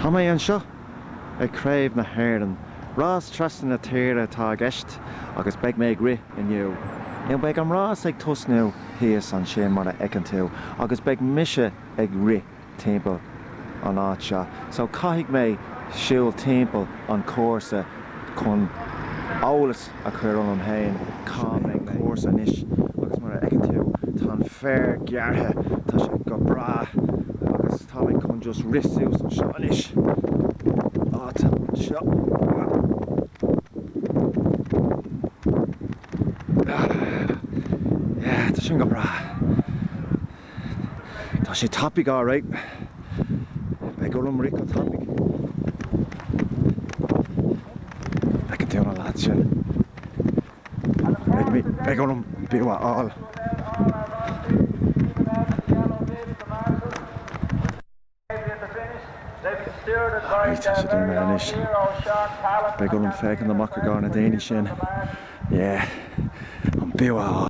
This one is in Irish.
Tá mé anseo ag Craobh na hÉireann. Rás trasna na tíre atá i gceist agus beidh mé ag rith inniu. Nó beidh an rás ag tosnú thíos ansin mar a fheiceann tú agus beidh mise ag rith timpeall an áit seo so caithfidh mé siúl timpeall an chúrsa chun eolas a chur orm féin, cá mbeidh an cúrsa anois agus mar a fheiceann tú tá an féar gearrtha, tá sé go breá agus tá mé chun just rith suas anseo anois, áit anseo, ah, yeah, tá sin go breá. Tá sé tapaidh alright. Beidh orm rith go tapaidh. Feiceann tú na lads sin? Beidh orm bua a fháil. Alright, tá siad imithe anois. Beidh orm féachaint amach i gcomhair na daoine sin. Yeah, an bua a fháil.